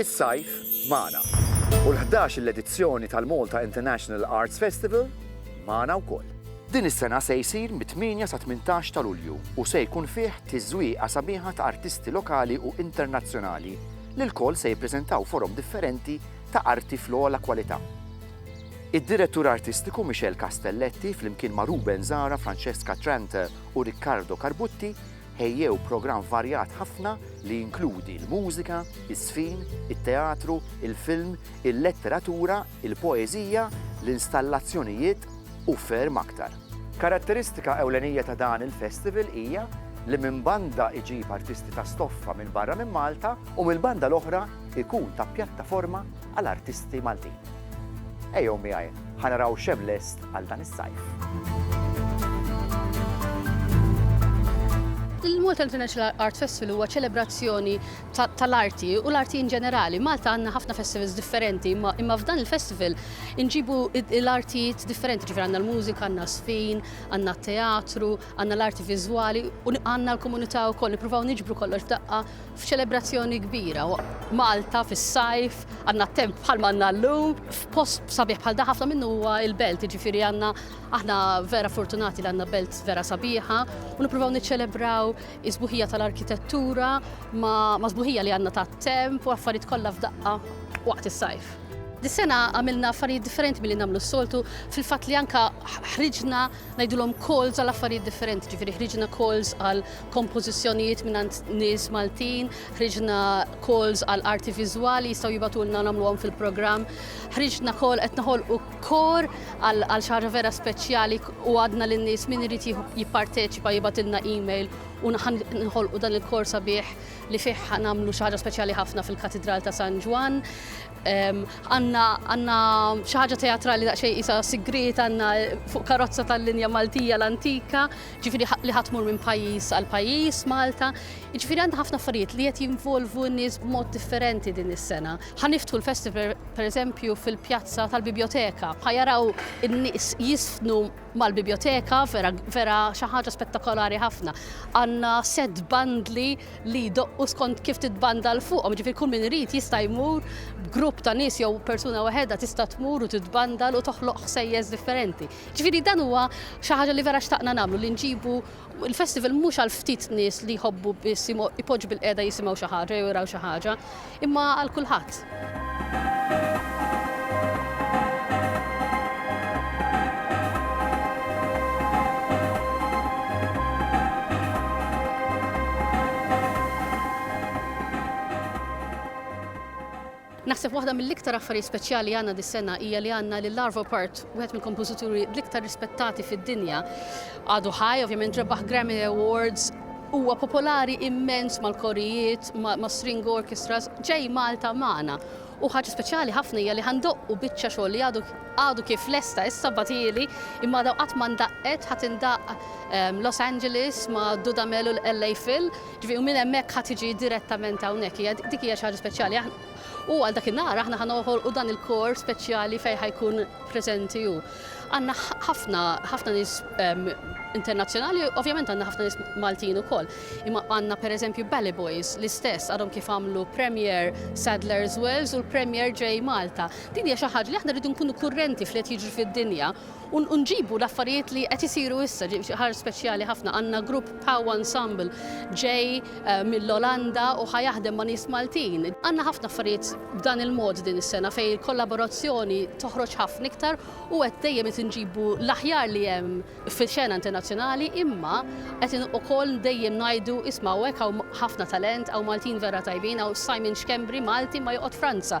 Is-sajf magħna u l-ħdax-il edizzjoni tal-Malta International Arts Festival magħna wkoll. Din is-sena se jsir mit-tmienja sa tmintax ta' Lulju u se jkun fih tiżwieqa sabiħa ta' artisti lokali u internazzjonali li lkoll se jippreżentaw forom differenti ta' arti fl-ogħla kwalità. Id-Direttur Artistiku Michel Castelletti flimkien ma' Ruben Zahra, Francesca Tranter u Riccardo Carbutti ħejjew programm varjat ħafna li jinkludi l-mużika, iż-żfin, it-teatru, il-film, il-letteratura, il-poeżija, l-installazzjonijiet u ferm aktar. Karatteristika ewlenija ta' dan il-festival hija li minn banda iġib artisti ta' stoffa minn barra minn Malta u mill-banda l-oħra jkun ta' pjattaforma għal artisti Maltin. Ejjew miegħi ħa naraw x'hemm lest għal dan is-sajf. Il-Malta International Art Festival huwa ċelebrazzjoni tal-arti u l-arti in ġenerali. Malta għandna ħafna festivals differenti, imma f'dan il-festival inġibu l-artijiet differenti, ġifir għandna l-mużika, għandna sfin, għandna teatru, għandna l-arti viżwali u għandna l-komunità wkoll nippruvaw niġbru kollox f'daqqa F'ċelebrazzjoni kbira, Malta fis-sajf, għandna temp bħalma għandna llum, f'post sabiħ bħal dan ħafna minnu huwa l-belt, jiġifieri għandna aħna vera fortunati li għandna belt vera sabiħa u nippruvaw niċċelebraw is-sbuħija tal-arkitettura ma' sbuħija li għandna tat-temp u affarijiet kollha f'daqqa waqt is-sajf. Dis-sena għamilna affarijiet differenti milli nagħmlu s-soltu fil-fatt li anke ħriġna ngħidulhom calls għal affarijiet differenti, ġifieri ħriġna calls għal kompożizzjonijiet mingħand nies Maltin, ħriġna calls għal arti viżwali jistgħu jibatulna nagħmluhom fil-programm, ħriġna call qed naħolqu kor għal xi ħaġa vera speċjali u għadna lin nies min irid jipparteċipa jibatilna email u nħolqu dan il-kor sabiħ li fih nagħmlu xi ħaġa speċjali ħafna fil-Katidral ta' San Ġwann. Għanna xi ħaġa teatrali daqsxejn isa sigriet għanna fuq karozza tal-linja Maltija l-antika, ġifiri li ħatmur minn pajjiż għal pajjiż Malta. Ġifiri għandha ħafna affarijiet li qed jinvolvu n-nies b'mod differenti din is-sena. Ħaniftħu l-festival pereżempju fil-pjazza tal-biblioteka. Ħajaraw in-nies jisfnu mal-bibjoteka vera vera xi ħaġa spettakolari ħafna. Għandna set bandli li jdoqqu skont kif titbanda l fuqhom, ġifieri kull min irid jista' jmur b'grupp ta' nies jew persuna waħedha tista' tmur u titbanda u toħloq ħsejjes differenti. Ġifieri dan huwa xi ħaġa li vera xtaqna nagħmlu li nġibu il-festival mhux għal ftit nies li jħobbu biss ipoġġu bil-qiegħda jisimgħu xi ħaġa jew jaraw xi ħaġa, Imma għal kulħadd. Naħseb waħda mill-iktar affarijiet speċjali li għandna dis-sena hija li għandna lil Arvo Part, wieħed mill-kompożituri l-iktar rispettati fid-dinja. Għadu ħaj, ovvjament rebaħ Grammy Awards, Huwa popolari immens mal-korijiet, mas-string orchestras, ġej Malta magħna. U ħaġa speċjali ħafna hija li ħa ndoqqu biċċa xogħol li għadu għadu kif lesta issa bagħtieli imma għadha qatt ma ndaqqet, ħa tindaqq Los Angeles ma' Dudamel u l-LA Phil, ġifieri u minn hemmhekk ħa tiġi direttament hawnhekk. Hija dik hija xi ħaġa speċjali. U għal dak in-nhar aħna ħa noħolqu dan il-kor speċjali fejn ħa jkun preżenti hu. Għandna ħafna ħafna nies ehm, internazzjonali, ovvjament għandna ħafna nies Maltin ukoll. Imma għandna pereżempju Bally Boys l-istess għadhom kif għamlu Premier Sadler's Wells u l-Premier ġej Malta. Din hija xi ħaġa li aħna rridu nkunu kurrenti f'li qed jiġri fid-dinja u nġibu l-affarijiet li qed isiru issa, ħaġa speċjali ħafna għandna grupp Pow Ensemble ġej mill-Olanda u ħa jaħdem ma' nies Maltin. Għandna ħafna affarijiet b'dan il-mod din is-sena fejn il-kollaborazzjoni toħroġ ħafna iktar u qed dejjem qed inġibu l-aħjar li hemm fix-xena internazzjonali imma qed ukoll dejjem ngħidu isma' hawnhekk hawn ħafna talent, hawn Maltin vera tajbin, hawn Simon Schembri Malti imma joqgħod Franza.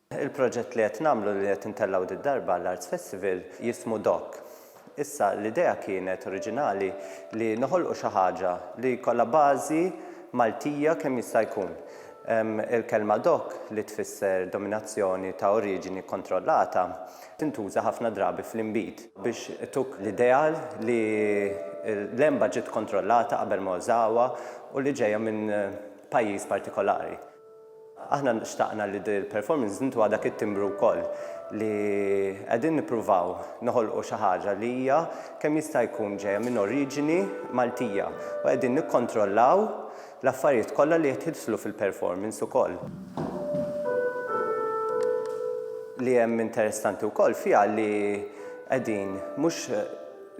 Il-proġett li qed nagħmlu li qed intellgħu did-darba għall-Arts Festival jismu Doc. Issa l-idea kienet oriġinali li noħolqu xi ħaġa li jkollha bażi Maltija kemm jista' jkun. Il-kelma Doc li tfisser dominazzjoni ta' oriġini kkontrollata tintuża ħafna drabi fl-inbid biex ituk l-idea li l-għenba ġiet kkontrollata qabel ma użawha u li ġejja minn pajjiż partikolari. Aħna xtaqna li dil-performance nintuha dak it-timbru wkoll li qegħdin nippruvaw noħolqu xi ħaġa li hija kemm jista' jkun ġejja minn oriġini Maltija u qegħdin nikkontrollaw l-affarijiet kollha li qed jidħlu fil-performance ukoll. Li hemm interessanti wkoll fiha li qegħdin mhux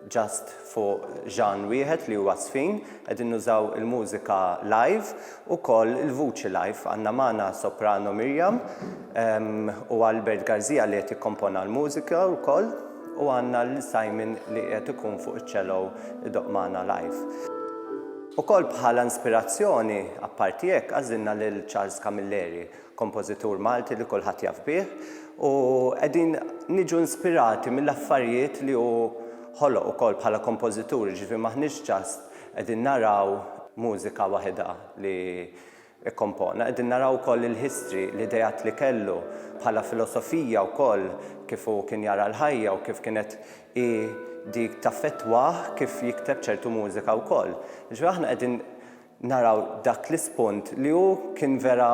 just fuq ġanr wieħed li huwa żfin, qegħdin nużaw il-mużika live, ukoll il-vuċi live. Għandna magħna soprano Miriam u Albert Garzija li qed jikkompona l-mużika wkoll u għandna lil Simon li qiegħed ikun fuq iċ-cello idoqq magħna live. Ukoll bħala inspirazzjoni, apparti hekk, għażilna lil Charles Camilleri. kompożitur Malti li kulħadd jaf bih, u qegħdin niġu inspirati mill-affarijiet li hu ħoloq ukoll bħala kompożitur, jiġifieri m'aħniex just qegħdin naraw mużika waħidha li kkompona, qegħdin naraw ukoll il-history, l-ideat li kellu, bħala filosofija wkoll, kif hu kien jara l-ħajja u kif kienet hi dik taffettwah kif jikteb ċertu mużika wkoll. Jiġifieri aħna qegħdin naraw dak l-ispunt li hu kien vera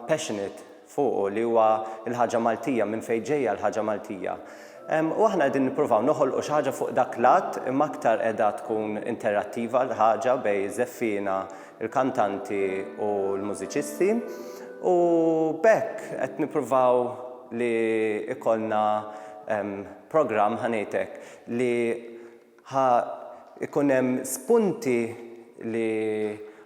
passionate fuqu li huwa l-ħaġa Maltija, minn fejn ġejja l-ħaġa Maltija. U aħna qegħdin nippruvaw noħolqu xi ħaġa fuq dak l-att imma aktar qiegħda tkun interattiva l-ħaġa bejn iż-żeffiena, il-kantanti u l-mużiċisti u b'hekk qed nippruvaw li jkollna programm, ħa ngħid hekk, li Ħa jkun hemm spunti li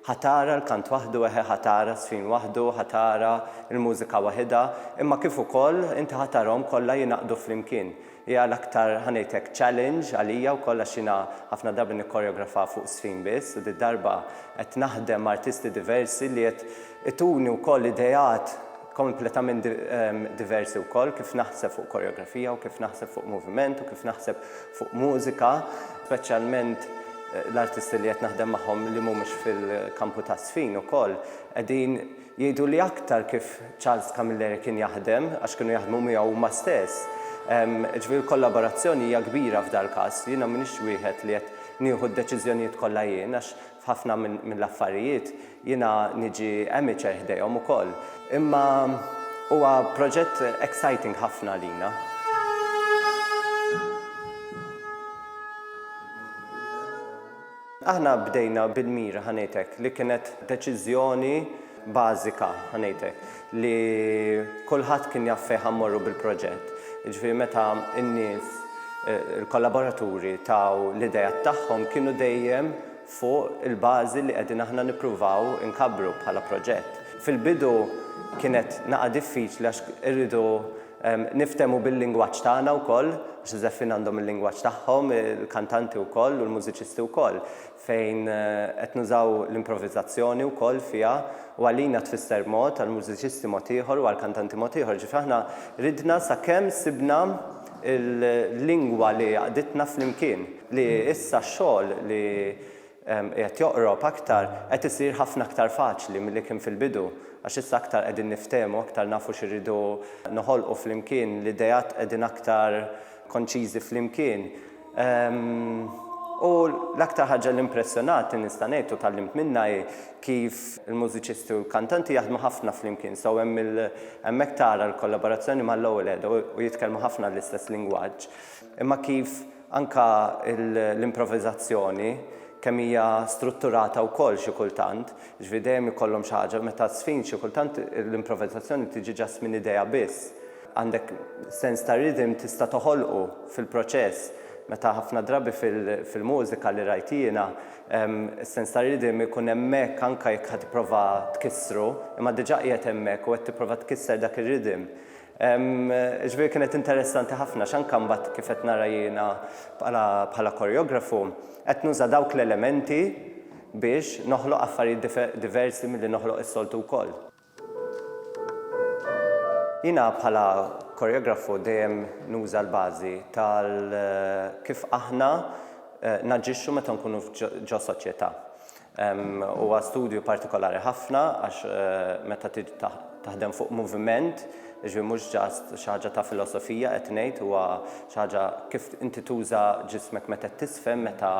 ħa tara l-kant waħdu, eħe ħa tara ż-żfin waħdu, ħa tara l-mużika waħidha, imma kif ukoll inti ħa tarahom kollha jingħaqdu flimkien. Hija l-aktar, ħa ngħid hekk, challenge għalija wkoll għax jiena ħafna drabi nikkoreografa fuq żfin biss u did-darba qed naħdem ma' artisti diversi li qed ituni wkoll ideat, kompletament diversi wkoll kif naħseb fuq koreografija u kif naħseb fuq moviment u kif naħseb fuq mużika, speċjalment l-artisti li qed naħdem magħhom li mhumiex fil-kampu taż-żfin ukoll qegħdin jgħiduli aktar kif Charles Camilleri kien jaħdem għax kienu jaħdmu miegħu huma stess. Ġifieri l-kollaborazzjoni hija kbira f'dal-każ. Jiena m'iniex wieħed li qed nieħu d-deċiżjonijiet kollha jien għax F'ħafna mill-affarijiet jiena niġi amateur ħdejhom ukoll. Imma huwa proġett exciting ħafna għalina. Aħna bdejna bil-mira, ħa ngħidlek, li kienet deċiżjoni, bażika, ħa ngħid hekk, li kulħadd kien jaf fejn ħa mmorru bil-proġett. Jiġifieri meta n-nies, il-kollaboraturi taw l-ideat tagħhom kienu dejjem fuq il-bażi li qegħdin aħna nippruvaw inkabbru bħala proġett. Fil-bidu kienet naqa' diffiċli għax irridu niftehmu bil-lingwaġġ tagħna wkoll, għax iż-żeffin għandhom il-lingwaġġ tagħhom, il-kantanti wkoll u l-mużiċisti wkoll. fejn qed nużaw l-improvizazzjoni wkoll fiha u għalina tfisser mod, għall-mużiċisti mod ieħor u għall-kantanti mod ieħor. Ġifieri aħna ridna sakemm sibna l-lingwa li għaqditna flimkien, li issa x-xogħol li qiegħed joqrob aktar qed isir ħafna aktar faċli milli kien fil-bidu għax issa aktar qegħdin niftehmu, aktar nafu xi rridu noħolqu flimkien, l-ideat qegħdin aktar konċiżi flimkien. U l-aktar ħaġa li impressjonatni nista' ngħid u tgħallimt minnha hi kif il-mużiċisti u l-kantanti jaħdmu ħafna flimkien. So hemm il hemmhekk tara l-kollaborazzjoni mal-ewwel għeda u jitkellmu ħafna l-istess lingwaġġ. Imma kif anka l-improviżazzjoni kemm hija strutturata wkoll xi kultant, jiġifieri dejjem ikollhom xi ħaġa, meta żfin xi kultant l-improviżazzjoni tiġi ġast minn idea biss. Għandek sens ta' rhythm tista' toħolqu fil-proċess. Meta ħafna drabi fil-mużika li rajt jiena, is-sens ta' rhythm ikun hemmhekk anke jekk ħa tipprova tkissru, imma diġà qiegħed hemmhekk u qed tipprova tkisser dak ir-rhythm. Jiġifieri kienet interessanti ħafna għax anke mbagħad kif qed nara jiena bħala bħala koreografu, qed nuża dawk l-elementi biex noħloq affarijiet diversi milli noħloq is-soltu wkoll. Jiena bħala koreografu dejjem nuża l-bażi tal kif aħna naġixxu meta nkunu ġo soċjetà. Huwa studju partikolari ħafna għax meta tiġi taħdem fuq moviment, jiġifieri mhux just xi ħaġa ta' filosofija qed ngħid, huwa xi ħaġa kif inti tuża ġismek meta qed tiżfen, meta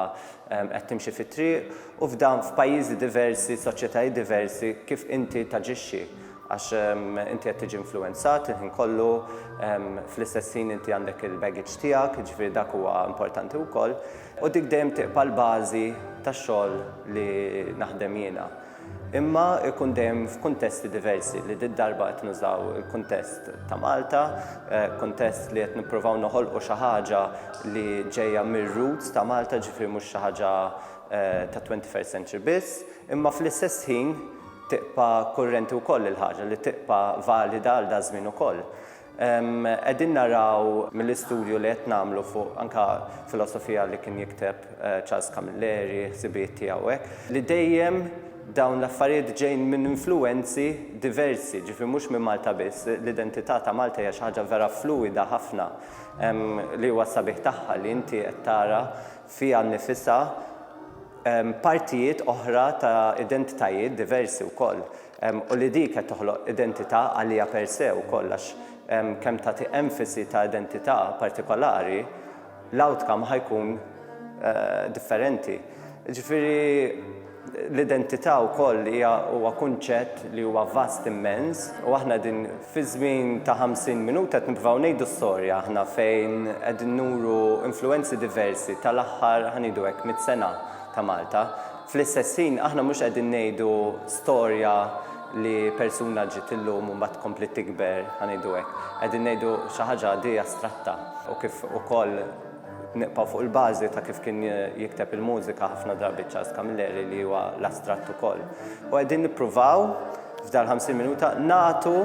qed timxi fit-triq u f'dan f'pajjiżi diversi, soċjetajiet diversi, kif inti taġixxi għax inti qed tiġi influwenzat il-ħin kollu, fl-istess ħin inti għandek il-baggage tiegħek, jiġifieri dak huwa importanti wkoll u dik dejjem tibqa' l-bażi tax-xogħol li naħdem jiena. imma jkun dejjem f'kuntesti diversi li did-darba qed nużaw il-kuntest ta' Malta, kuntest li qed nippruvaw noħolqu xi ħaġa li ġejja mir-roots ta' Malta, ġifieri mhux xi ħaġa ta' twenty first century biss, imma fl-istess ħin tibqa' kurrenti wkoll il-ħaġa li tibqa' valida għal daż-żmien ukoll. Qegħdin naraw mill-istudju li qed nagħmlu fuq anke filosofija li kien jikteb Charles Camilleri, ħsibijiet tiegħu hekk, li dejjem dawn l-affarijiet ġejjin minn influwenzi diversi, ġifieri mhux minn Malta biss. L-identità ta' Malta hija xi ħaġa vera fluwida ħafna li huwa s-sabiħ tagħha li inti qed tara fiha nnifisha partijiet oħra ta' identitajiet diversi wkoll. u li dik qed toħloq identità għaliha per se wkoll għax kemm tagħti emfasi ta' identità partikolari, l-outcome ħa jkun differenti. Ġifieri l-identità wkoll hija huwa kunċett li huwa vast immens u aħna qegħdin fi żmien ta' 50 minuta qed nippruvaw ngħidu storja aħna fejn qegħdin nuru influwenzi diversi tal-aħħar ħa ngħidu hekk mitt sena ta' Malta. Fl-istess ħin, aħna mhux qegħdin ngħidu storja li persuna ġiet illum u mbagħad kompliet tikber, ħa ngħidu hekk. Qegħdin ngħidu xi ħaġa għaddejja astratta u kif ukoll nibqgħu fuq il-bażi ta' kif kien jikteb il-mużika ħafna drabi Charles Camilleri li huwa l-astratt ukoll. U qegħdin nippruvaw f'dal 50 minuta nagħtu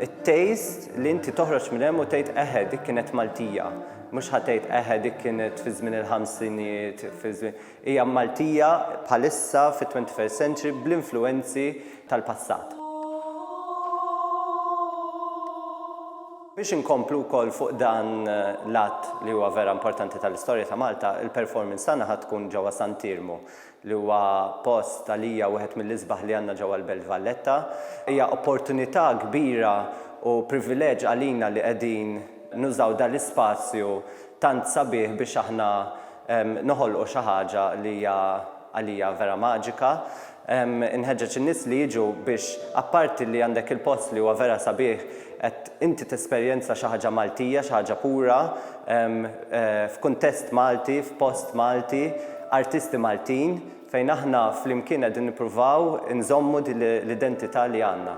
it-taste li inti toħroġ minn hemm u tgħid eħe dik kienet Maltija. Mhux ħa tgħid eħe dik kienet fi żmien il-ħamsinijiet, fi żmien. Hija Maltija bħalissa fit-twenty first century bl-influwenzi tal-passat. Biex inkomplu wkoll fuq dan l-att li huwa vera importanti tal-istorja ta' Malta, il-performance tagħna ħa tkun ġewwa Sant'Iermu li huwa post għalija wieħed mill-isbaħ li għandna ġewwa l-Belt Valletta. Hija opportunità kbira u privileġġ għalina li qegħdin nużaw dan l-ispazju tant sabiħ biex aħna noħolqu xi ħaġa li hija għalija vera maġika. Inħeġġeġ in-nies li jiġu biex apparti li għandek il-post li huwa vera sabiħ qed inti tesperjenza xi ħaġa Maltija, xi ħaġa pura, f'kuntest Malti, f'post Malti, artisti Maltin, fejn aħna flimkien qegħdin nippruvaw inżommu din l-identità li għandna.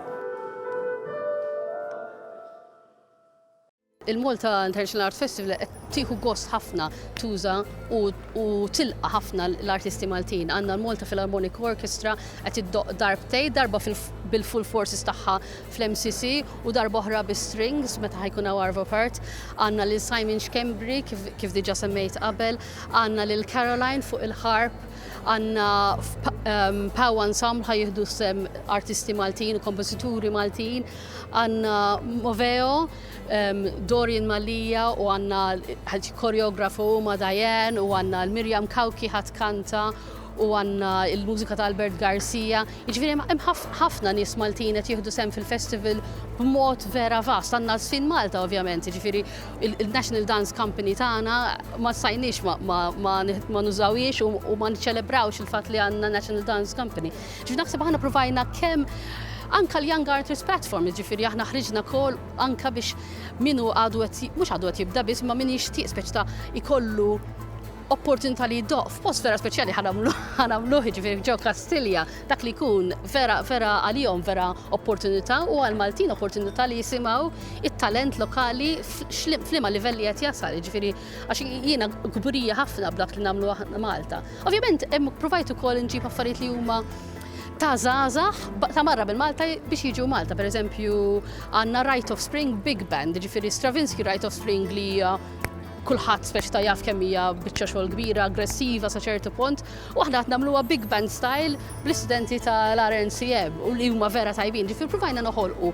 Il-Malta International Art Festival qed tieħu gost ħafna tuża u tilqa' ħafna l-artisti Maltin. Għandna l-Malta Philharmonic Orchestra qed iddoq darbtej, darba bil-full forces tagħha fl-MCC u darba oħra bis-strings meta ħajkun hawn Arvo Part. Għandna lil Simon Xkembri kif diġà semmejt qabel, għandna lil Caroline fuq il-ħarp, għandna ehm, Pow Ensemble ħajjieħdu sem artisti Maltin u kompożituri Maltin, Għandna Moveo, Dorian Mallia u għandna l-koreografu huma Diane u għandna l-Mirjam Kawki ħadd kanta u għandna l-mużika ta' Albert Garcia. Jiġifieri hemm ħafna nies Maltin qed jieħdu sehem fil-festival b'mod vera vast. Għandna Żfin Malta ovvjament, jiġifieri il-National Dance Company tagħna ma stajniex ma nużawhiex u ma niċċelebrawx il-fatt li għandna National Dance Company. Ġifieri naħseb aħna provajna kemm anka l-Young Artists Platform, ġifieri aħna ħriġna kol anka biex minu għadu għet, mux għadu għet jibda biss, ma min jixtieq speċ ta' ikollu opportunità li jiddoq f'post vera speċjali ħanamlu ġifieri ġo Kastilja, dak li jkun vera vera għalihom vera opportunità u għal Maltin opportunità li jisimgħu it-talent lokali f'liema livelli qed jasal, ġifieri għax jiena kburija ħafna b'dak li nagħmlu aħna Malta. Ovvjament hemm provajt ukoll nġib affarijiet li huma ta' zazax ta' marra bil Malta biex jiġu Malta. Per eżempju, għanna Right of Spring Big Band, ġifiri Stravinsky Right of Spring li kulħadd speċi ta' jaf kemm hija biċċa xogħol kbira, aggressiva sa ċertu punt, u aħna qed nagħmluha big band style bl-istudenti tal-RNCM u li huma vera tajbin. Ġifier provajna noħolqu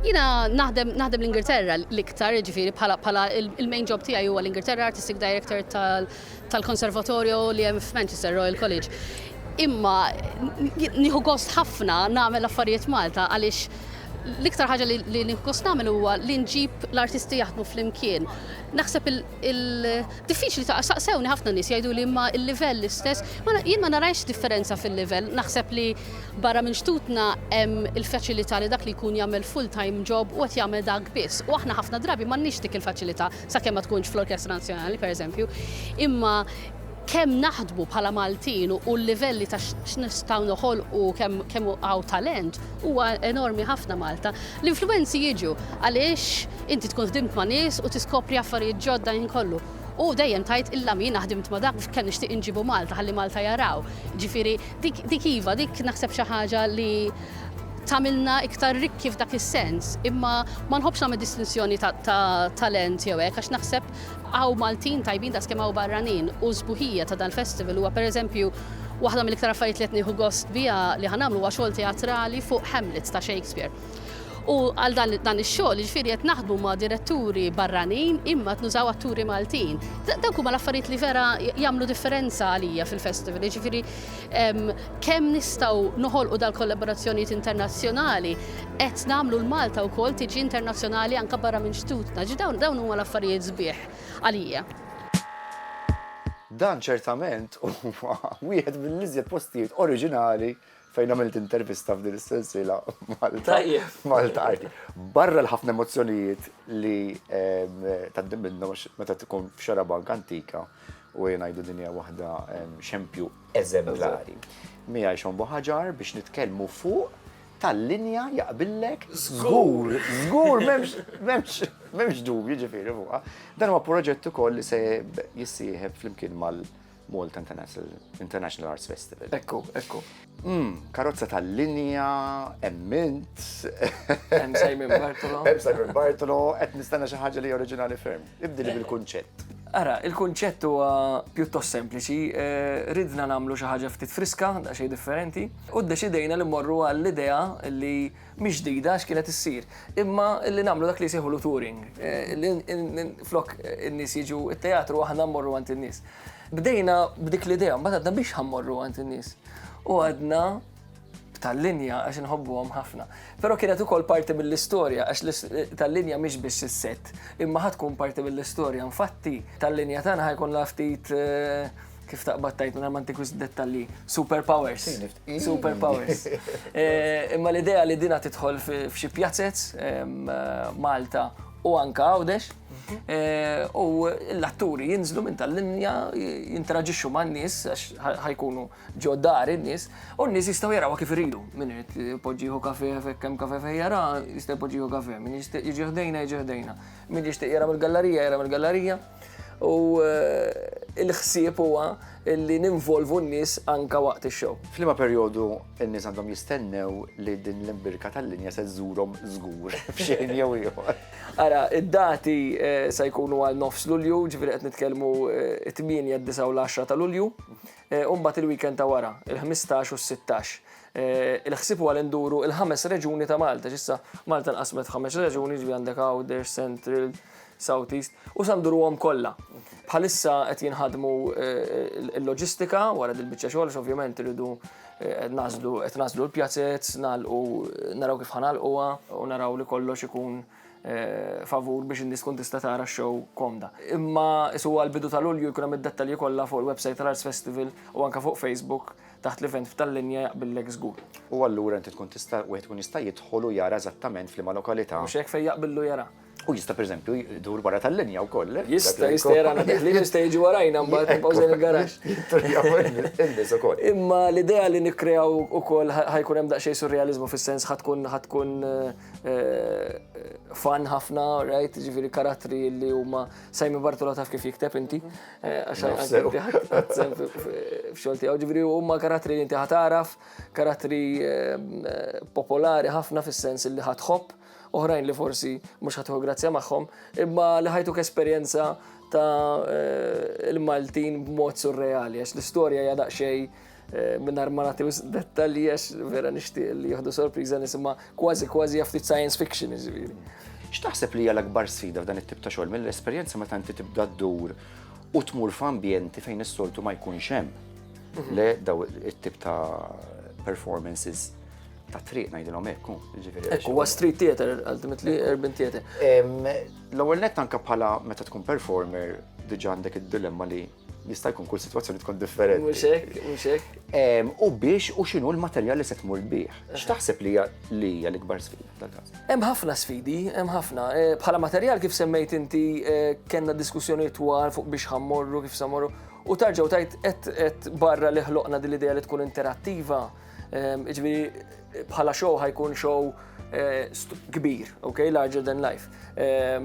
Jina naħdem naħdem l-Ingilterra l-iktar, ġifiri bħala il-main job tiegħi huwa l-Ingilterra Artistic Director tal-Konservatorju li hemm f'Manchester Royal College. Imma nieħu gost ħafna nagħmel affarijiet Malta għaliex l-iktar ħaġa li nieħu gost nagħmel huwa li nġib l-artisti jaħdmu flimkien. Naħseb Il-diffiċli ta' saqsewni ħafna nies jgħiduli imma l-livell l-istess. Jien ma narajx differenza fil-livell, naħseb li barra minn xtutna hemm il-faċilità li dak li jkun jagħmel full-time job u qed jagħmel dak biss. U aħna ħafna drabi m'għandniex dik il-faċilità sakemm ma tkunx fl-Orkestra Nazzjonali, pereżempju. Imma. kemm naħdmu bħala Maltin u l-livelli ta' x'nistgħu noħolqu kemm hawn talent huwa enormi ħafna Malta. L-influwenzi jiġu għaliex inti tkun ħdimt ma' nies u tiskopri affarijiet ġodda ħin kollu. U dejjem tgħid illa min jiena ħdimt ma' dak kemm nixtieq inġibu Malta ħalli Malta jaraw. Ġifieri dik iva, dik naħseb xi ħaġa li tagħmilna iktar rikki f'dak is-sens. Imma ma nħobbx nagħmel distinzjoni ta' talent jew hekk għax naħseb Hawn Maltin tajbin daqs kemm hawn barranin u s-sbuħija ta' dal-festival huwa per eżempju waħda mill-iktar affarijiet li qed nieħu gost biha li ħa nagħmlu huwa xogħol teatrali fuq Hamlet ta' Shakespeare. U għal dan ix-xogħol jiġifieri qed naħdmu ma' diretturi barranin imma qed nużaw atturi Maltin. Dawk huma l-affarijiet li vera jagħmlu differenza għalija fil-festival jiġifieri Kemm nistgħu noħolqu dal-kollaborazzjonijiet internazzjonali qed nagħmlu 'l Malta wkoll tiġi internazzjonali anke barra minn xtutna. Ġi dawn dawn huma l-affarijiet sbieħ għalija. Dan ċertament huwa wieħed mill-iżjed postijiet oriġinali fejn għamilt intervista f'din is-sensiela Malta Malta Arti. Barra l-ħafna emozzjonijiet li tgħaddi minnhom għax meta tkun f'xarabank antika, u ejja ngħidu din hija waħda xempju eżemplari. Mija jxombu ħaġar biex nitkellmu fuq tal-linja jaqbillek żgur, żgur m'hemmx dubju ġifieri fuqha. Dan huwa proġett ukoll li se jissieħeb flimkien mal- Malta International Arts Festival. Ekku, ekku. Mmm, karozza tal-linja, hemm mint. Hemm Simon Bartolo. Hemm Simon Bartolo, qed nistenna xi ħaġa li oriġinali ferm. Ibdili bil-kunċett. Ara, il-kunċett huwa pjuttost sempliċi, ridna nagħmlu xi ħaġa ftit friska, daqsxejn differenti, u ddeċidejna li mmorru għall-idea li mhix ġdida għax kienet issir, imma li nagħmlu dak li jsejħulu touring, li flok in-nies jiġu t-teatru aħna mmorru għand in-nies. Bdejna b'dik l-idea, mbagħad għadna biex ħammorru għand in-nies. U għadna tal-linja għax inħobbuhom ħafna. Però kienet ukoll parti mill-istorja għax tal-linja mhix biex is-set, imma ħad tkun parti mill-istorja. Infatti tal-linja tagħna ħajkun ftit eh, kif taqbad tajt minna manti kwis dettalli, superpowers. Superpowers. Eh, imma l-idea li dina titħol f'xi pjazzez eh, Malta u anka għawdex. Mhm. Eh, u l-atturi jinżlu minn tal-linja, jinteraġixxu ma' n-nis, ħajkunu ġo dar n-nis, u n-nis jistaw jaraw kif rridu. Minn irid poġġiħu kafe, fekkem kafe fejjara, jistaw poġġiħu kafe, minn jiġiħdejna, jiġiħdejna. Min jixtieq jara mill-gallarija, jara mill-gallarija. U eh, il-ħsieb huwa li ninvolvu n-nies anka waqt ix-show. Flima perjodu n-nies għandhom jistennew li din l-imbirka tal-linja se żżurhom żgur f'xejn jew ieħor. Ara, id-dati eh, se jkunu għal nofs Lulju, ġifieri qed nitkellmu eh, 8, 9 u l-10 ta' Lulju. u mbagħad il-weekend ta' wara, il-ħmistax u s-sittax. Il-ħsieb huwa li nduru il-ħames reġuni ta' Malta, x'issa Malta nqasmet f'ħames reġuni, ġifieri għandek Għawdex, Central, South East, u sa nduruhom kollha. Bħalissa qed jinħadmu l-loġistika wara dil-biċċa xogħol, għax ovvjament irridu nagħżlu qed nagħżlu l-pjazez, nagħlqu naraw kif ħa nagħlquha u naraw li kollox ikun Eh, favur biex in-nies tkun tista' tara x-show komda. Imma isu għal bidu tal-Ulju jkun hemm id-dettalji kollha fuq il-website tal-Arts Festival u anke fuq Facebook taħt l-event f'tal-linja jaqbillek żgur. U allura inti tkun tista' wieħed tkun jista' jidħol u jara eżattament f'liema lokalità. Mhux hekk fejn jaqbillu jara. U jista' pereżempju jdur wara tal-linja wkoll. Eh? Jista' jista' jara li jista' jiġi warajna mbagħad nbawżen il-garax. Imma l-idea li nikkrew ukoll ħajkun hemm daqsxejn surrealiżmu fis-sens ħatkun ħatkun eh, fan ħafna, right, ġifiri karattri li huma Simon Bartola taf kif jikteb inti, għaxan fxolti għaw ġifiri huma karattri li inti ħataraf, karattri popolari ħafna fis-sens li ħatħobb, oħrajn li forsi mhux ħatuħu grazzja magħhom, imma li ħajtuk esperjenza ta' eh, il-Maltin b'mod surreali, għax l-istorja hija daqsxejn mingħajr ma nagħti wisq dettalji għax vera nixtieq li jieħdu sorpriża nisimha kważi kważi hija ftit science fiction jiġifieri. X'taħseb li hija l-akbar sfida f'dan it-tip ta' xogħol mill-esperjenza meta inti tibda ddur u tmur f'ambjenti fejn is-soltu ma jkunx hemm mhm. le daw it-tip ta' performances ta' triq ngħidilhom hekk, jiġifieri. Ekku, huwa street theater, ultimately urban theater. L-ewwel nett anke bħala meta tkun performer diġà għandek id-dilemma li Jista' jkun kull sitwazzjoni tkun differenti. Mhux hekk, mhux hekk. Em, U biex u x'inhu l-materjal li se tmur bih. X'taħseb li hija li hija l-ikbar sfida f'dan każ? Hemm ħafna sfidi, hemm ħafna. Eh, Bħala materjal kif semmejt inti eh, kellna diskussjonijiet twal fuq biex ħammorru, kif samorru. U tarġaw tajt qed qed barra li ħloqna din l-idea li tkun interattiva. Ġifieri bħala show ħajkun show eh, kbir, ok, larger than life. Eh,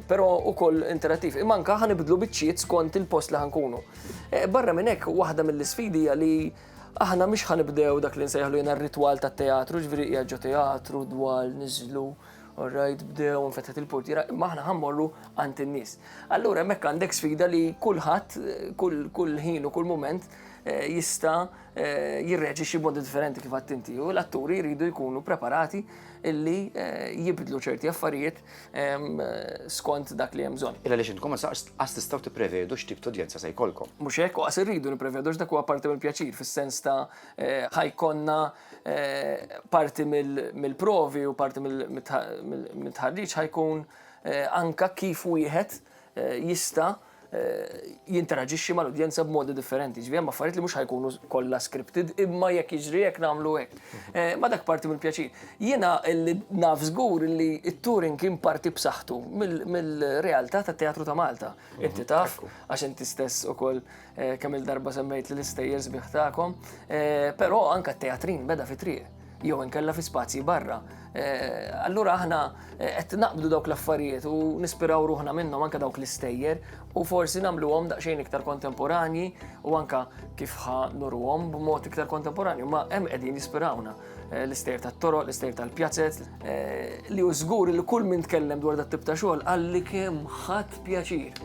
Pero u koll interattiv. Imanka ħanibdlu bitċiet skont il-post li ħankunu. Eh, barra minn hekk, waħda mill-isfidi li aħna mhix ħanibdew dak li nsejħlu jena r-ritwal ta' teatru, ġviri jgħagġu teatru, dwal, nizlu, orrajt, bdew, nfetħet il-portira, imma aħna ħammorru għant in-nies. Allura hemmhekk għandek sfida li kulħadd, kull ħin u kull moment eh, jista' jirreġi xi bodi differenti kif għadt inti u l-atturi jridu jkunu preparati illi eh, jibdlu ċerti affarijiet ehm, skont dak li hemm bżonn. Illa li xintkom ma saqs qas tistgħu tipprevedu x'tip ta' udjenza se jkollkom. Mhux hekk u qas irridu nipprevedu x'dak huwa parti mill-pjaċir fis-sens ta' eh, ħajkonna eh, parti mill-provi u parti mill-tħarriġ ħajkun anka kif wieħed jista' jinteraġixxi mal-udjenza b'modi differenti. Ġifieri hemm affarijiet li mhux ħajkunu kollha scripted, imma jekk jiġri hekk nagħmlu hekk. Eh, ma dak parti mill-pjaċir. Jiena li naf żgur li t-touring kien parti b'saħħtu mill-realtà tat-teatru ta' Malta. Mhm, inti taf, għax inti stess ukoll eh, kemm il-darba semmejt li l-istejjer sbieħ tagħkom, eh, però anke t-teatrin beda fi triq. jew inkella fi spazji barra. Eh, allura aħna eh, qed naqbdu dawk l-affarijiet u nispiraw ruħna minnhom anke dawk l-istejjer u forsi nagħmluhom daqsxejn iktar kontemporanji u anka kif ħa nurhom b'mod iktar kontemporanju, ma hemm qegħdin jispirawna eh, l-istejjer tat-toroq, l-istejjer tal-pjazzet, li hu żgur li kull min tkellem dwar dat-tip ta' xogħol qalli kemm ħadd pjaċir.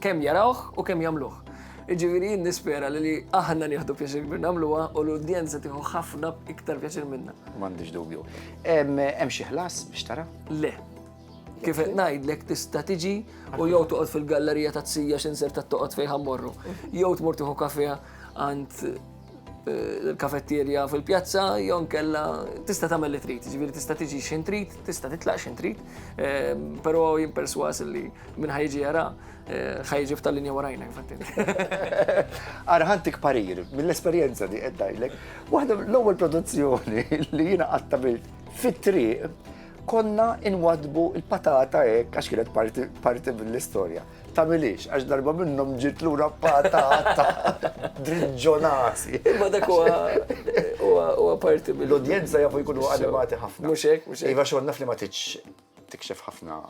Kemm jarawh u kemm jagħmluh. Iġifieri jien nispera li aħna nieħdu pjaċir kbir nagħmluha u l-udjenza tieħu ħafna iktar pjaċir minna. M'għandix dubju. Hemm xi ħlas biex tara? Le. Kif qed ngħidlek tista' tiġi u jew toqgħod fil-gallerija ta' tsija x'inser ta' toqgħod fejn ħammorru. Jew tmur tieħu kafè għand il-kafetterja fil-pjazza, jew nkella tista' tagħmel li trid, ġifieri tista' tiġi x'in trid, tista' titlaq x'in trid, eh, però jien perswas li minn ħajġi jara eh, ħajġi f'tal linja warajna fattini. Ara ħantik parir, mill-esperjenza li qed ngħidlek, waħda l-ewwel produzzjoni li jiena qatta fit-triq konna inwadbu il-patata hekk għax kienet parti mill-istorja. Tagħmilhiex, għax darba minnhom ġiet lura patata driġġonasi. Imma dak huwa huwa parti mill- L-udjenza jafu jkunu animati ħafna. Mhux hekk, mhux hekk. Iva xogħol naf li ma tridx tikxef ħafna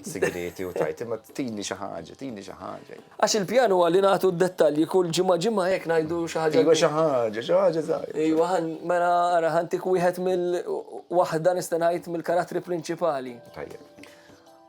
sigrieti u tgħid, imma tini xi ħaġa, tini xi ħaġa. Għax il-pjan huwa li nagħtu d-dettalji kull ġimgħa ġimgħa hekk ngħidu xi ħaġa. Iva xi ħaġa, xi ħaġa żgħira. Iva ħan mela ara ħantik wieħed mill waħda nista' ngħid mill-karattri prinċipali. Tajjeb.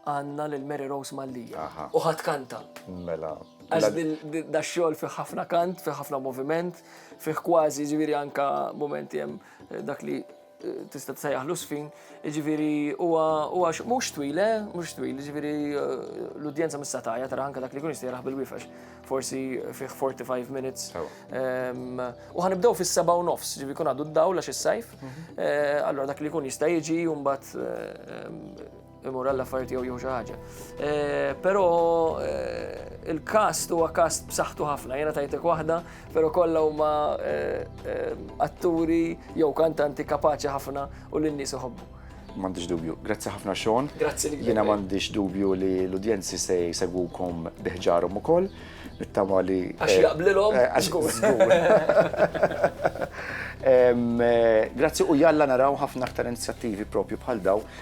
Għandna lil Mary Rose Mallia. U ħadd kanta. Mela. Għax da xogħol fi ħafna kant, fi ħafna moviment, fi kważi ġifieri anka momenti hemm eh, dak li eh, tista' tsejjaħlu sfin, ġifieri huwa huwa mhux twil, eh, mhux twil, ġifieri l-udjenza missa tajja tara anka dak li kun jistejraħ bil-wifex, forsi fi 45 minutes. Ehm, u ħanibdew fis-seba' u nofs, ġifieri kun għadu d-dawl għax is-sajf, mhm. allora dak li kun jista' jiġi u mbagħad ehm, imur għall-affarijiet jew jew xi ħaġa. Eh, però eh, il-kast huwa kast b'saħħtu ħafna, jiena tajtek waħda, però kollha huma eh, atturi jew kantanti kapaċi ħafna u lin nies iħobbu. M'għandix dubju. Grazzi ħafna Sean. Grazzi li Jiena m'għandix dubju li l-udjenzi se jsegwukom biħġarhom ukoll. Nittama li. Għax jaqblilhom? Għax Grazzi u jalla naraw ħafna aktar inizjattivi propju bħal daw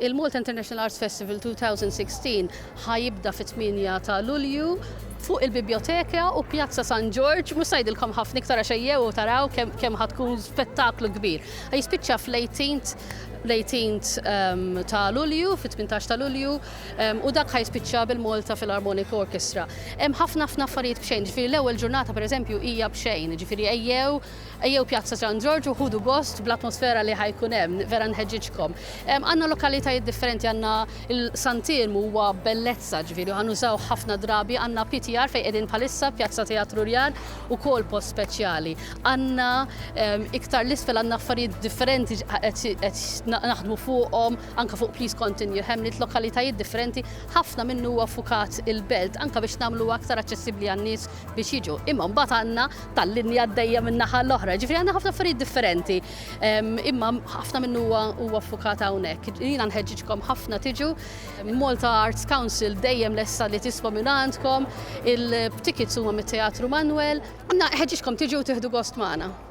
Il-Malta International Arts Festival 2016 ħa jibda fit-8 ta' Lulju fuq il-Bibjoteka u Pjazza San Ġorġ, mhux se ngħidilkom ħafna iktar għax ejjew u taraw kemm ħa tkun spettaklu kbir. Ħa jispiċċa fl-18th ehm, ta' Lulju, fit-18 ta' Lulju, ehm, u dak ħa jispiċċa bil-Malta Philharmonic Orchestra. Hemm ħafna ħafna affarijiet b'xejn, ġifieri l-ewwel ġurnata pereżempju hija b'xejn, ġifieri ejjew Ejjew Pjazza San Ġorġ u ħudu gost bl-atmosfera li ħa jkun hemm, vera nħeġġiġkom. Għandna lokalitajiet differenti, għandna San Tirmu huwa bellezza, ġifieri ħa nużawh ħafna drabi, għandna PTR fejn qegħdin bħalissa, Pjazza Teatru Rjar, ukoll post speċjali. Għandna iktar 'l isfel għandna affarijiet differenti qed naħdmu fuqhom, anke fuq Please Continue Hamlet, lokalitajiet differenti, ħafna minnu huwa ffukat il-Belt, anke biex nagħmluha aktar aċċessibbli għan-nies biex jiġu. Imma mbagħad għandna tal-linja għaddejja min-naħa l-oħra. Ġifieri għandna ħafna affarijiet differenti. Ehm, imma ħafna minnu huwa ffukat hawnhekk. Jiena nħeġġiġkom ħafna tiġu. Malta Arts Council dejjem lesta li tisma' minn għandkom. Il-tickets huma mit-Teatru Manwel. Għandna ħeġġiġkom tiġu tieħdu gost magħna.